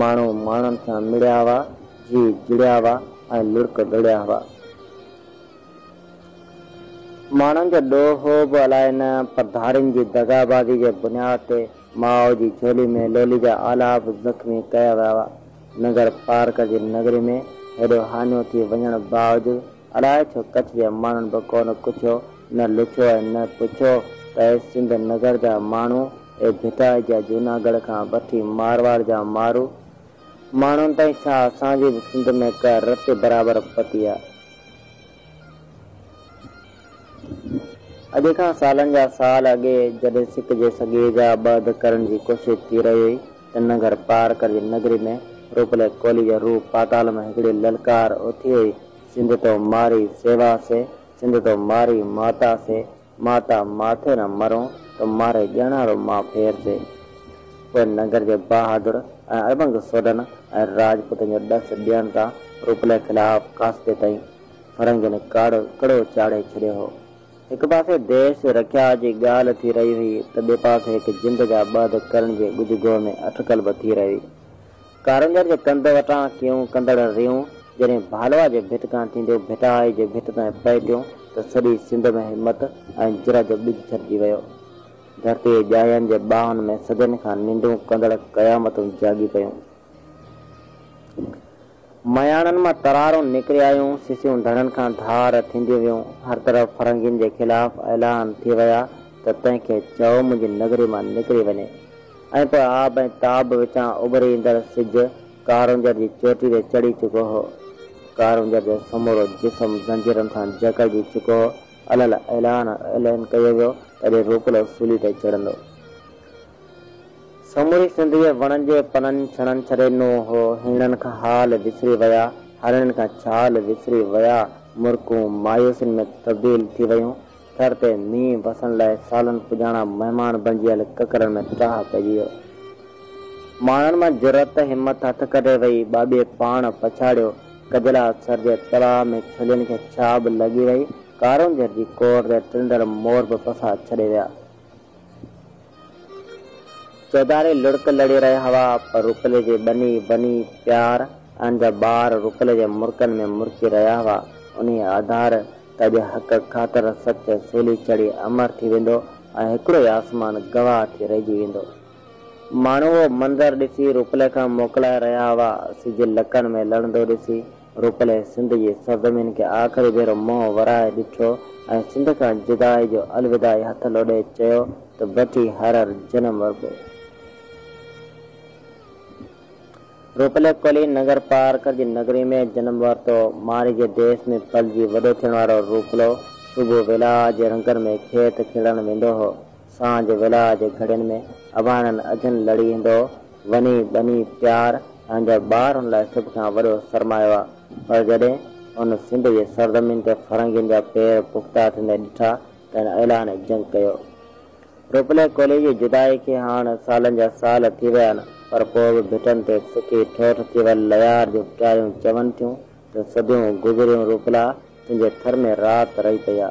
ماڻهو ماڻهن سان مڙيا هئا، جيء جڙيا هئا ۽ لڙڪ ڊوڙيا هئا. ماڻهن جو ڏوهه به الائي نه پر ڌارين جي دغابازي جي بنياد تي ماء جي جهولي ۾ لولي جا آلاپ زخمي ڪيا ويا هئا. ننگر پارڪر جي نگري ۾ هيڏو هاڃو ٿي وڃڻ باوجود اڙاء ڇو ڪڇ جي ماڻهن به ڪونه ڪڇيو، نه لڇو ۽ نه پڇيو ته اي سنڌ نگر جا ماڻهو، اي ڀٽائي جا جوناگڙهه کان وٺي مارواڙ جا مارو ماڻهن تائين ڇا اسان جي به سنڌ ۾ ڪا رت برابر پتي آ؟ اڄ کان سالن جا سال اڳي جڏهن سڪ جي سڳي جا ٻه اڌ ڪرڻ جي ڪوشش ٿي رهي هئي، ته ننگر پارڪر جي نگري ۾ روپلي ڪولي جو روح پاتال مان هڪڙي للڪار اٿي وئي، سنڌ تو ماري سيوا سي، سنڌ تو ماري ماتا سي، ماتا ماٿي نه مرون تو ماري ڄڻا رو مان ڦير سي. پوء ننگر جي بهادر ۽ اڙٻنگ سوڍن ۽ راجپوتن جو ڏس ڏيڻ تان روپلي خلاف قاصدي تائين فرنگين ڪڙو چاڙهي ڇڏيو هو. هڪ پاسي ديس رکيا جي ڳالهه ٿي رهي هئي ته ٻئي پاسي هڪ جند جا ٻه ڌڪ ڪرڻ جي ڳجهه گوء ۾ اٽڪل به ٿي رهي هئي. ڪارونجهر جي ڪنڌ وٽان ڪيون ڪندڙ ريون جڏهن ڀالوا جي ڀت کان ٿينديون ڀٽائي جي ڀت تائين پهتيون ته سڄي سنڌ ۾ همت ۽ جرئت جو ٻج ڇٽجي ويو. ڌرتيء ڄائين جي ٻانهن ۾ صدين کان ننڊون ڪندڙ قيامتون جاڳي پيون. مياڻن مان ترارون نڪري آيون، سسيون ڌڻن کان ڌار ٿينديون ويون، هر طرف فرنگين جي خلاف اعلان ٿي ويا ته تنهن کي چئو منهنجي نگري مان نڪري وڃي ۽ پوء آب ۽ تاب وچان اڀري ايندڙ سج ڪارونجهر جي چوٽي تي چڙهي چڪو هو. ڪارونجهر جو سمورو جسم زنجيرن سان جڪڙجي چڪو هو، الهل اعلان اعلان ڪيو ويو ته اڄ روپلو سولي تي چڙهندو. سموري سنڌيء وڻن جي پنن ڇڻن ڇڏي ڏنو هو، هيڻن کان حال وسري ويا، هرڻين کان ڇال وسري ويا، مرڪون مايوسين ۾ تبديل ٿي ويون، ٿر تي مينهن وسڻ لاء سالن پڄاڻا مهمان بڻجيل ڪڪرن ۾ ٽاهه پئجي ويو. ماڻهن مان جرئت همت هٿ ڪڍي وئي، ٻاٻي پاڻ پڇاڙيو، ڪجلا سر جي تلاء ۾ ڇلين کي ڇاٻ لڳي وئي، ڪارونجهر جي ڪور تي ٽنڊل مور به پساهه ڇڏي ويا. چوڌاري لڙڪ لڙي رهيا هئا، پر رپلي جي ٻني ٻني پيار ان جا ٻار رپلي جي مرڪن ۾ مرڪي رهيا هئا. انهيء آڌار ته اڄ حق خاطر سچ سولي چڙهي امر ٿي ويندو ۽ هڪڙو ئي آسمان گواهه ٿي رهجي ويندو. ماڻهو اهو منظر ڏسي رپلي کان موڪلائي رهيا هئا. سج لڪن ۾ لڙندو ڏسي روڪلي سنڌ جي سرزمين کي آخري ڀيرو منهن ورائي ڏٺو ۽ سنڌ کان جدائي جو الوداعي هٿ لوڏي چيو ته بٺي هر هر جنم وربو. روڪلي ڪولهي ننگر پارڪر جي نگري ۾ جنم ورتو. مارئي جي ديس ۾ پلجي وڏو ٿيڻ وارو روڪلو صبح ويلاء جي رنگن ۾ کيت کلڻ ويندو هو. سانجهه ويلاء جي گهڙين ۾ اڀاڻن اجهن لڙي ايندو هو. وني ٻني پيار پنهنجا ٻار ان لاء سڀ کان وڏو سرمايو آ پر جڏهن هن سنڌ جي سرزمين تي فرنگين جا پير پختا ٿيندي ڏٺا ته هن اعلان جنگ ڪيو روپلي ڪولهي جي جدائي کي هاڻ سالن جا سال ٿي ويا آن پر پوء به ڀٽن تي سڪي ٺوٺ ٿي ول ليار جون پٽاريون چون ٿيون ته صديون گذريون روپلا تنهنجي ٿر ۾ رات رهي پئي آ.